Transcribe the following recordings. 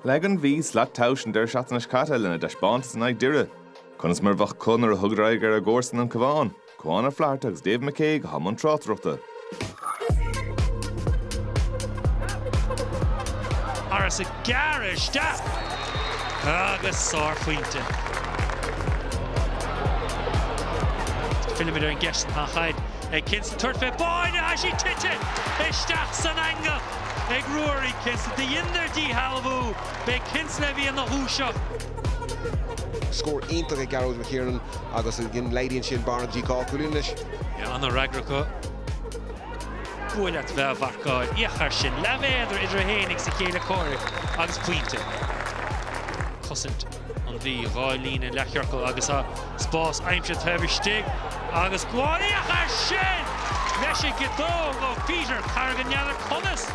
Leag an Mhí slat tomhais an deireadh seachtaine seo caite lena dtaispeántas in aghaidh Doire. Conas mar a bheadh acu nuair a thugadar aghaidh ar a gcomharsain an Cabhán, Cuán Ó Flatharta agus David McCague i mbun tráchtaireachta. Harris ag gearradh isteach agus sárphointe. Fillimid ar an gceist tá an chaid ag Kinsella tabhairt fé báire tá sí tite isteach san eangach. ag Ruairí Kinsella, dheineadar díshealbhú, b'é Kinsella a bhí ina dhúiseacht. Scór iontach ag Gearóid McKiernan agus ansin laghdaíonn sin an bhearna go dtí dhá chúilín anois. Sea an-fhreagra acu. Buail leat bheith á mharcáil. Féach air sin. Leathmhéadar idir é fhéinig is a chéile comhraic agus pointe. Cosaint. an Mhí, dhá líne leathchiorcal agus spás aimsithe taobh istigh agus féach air sin leis an gciotóg ó Pheter Corrigan, n'fheadar conas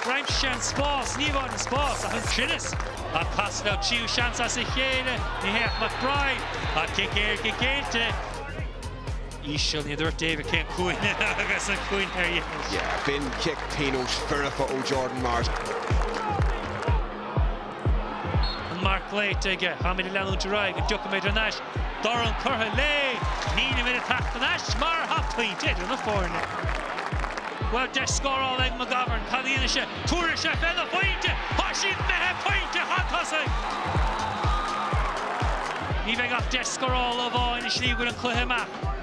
gur aimsigh sé an spás, ní amháin an spás ach an cruinneas ach casadh leo tríú seans as a chéile, ní hé ach McBride ach cic éirice géillte. íseal, ní dúirt David cén cúinne agus an cúinne ar dheis. B'in cic pionóis foirfe ó Jordan Morris. An marc glaoite aige, táimid ag leanúint ar aghaidh, an dtiocfaimid ar ais? Dorn curtha léi, nílimid ag teacht ar ais mar tá pointe idir na foirne. Bhuel, deis scórála ag McGovern, cad a dhéanfaidh sé? Tabharfaidh sé féna phointe! Tá siad imithe pointe chun tosaigh! Ní bheidh ach deis scórála amháin i slí go bhfuil an cluiche amach.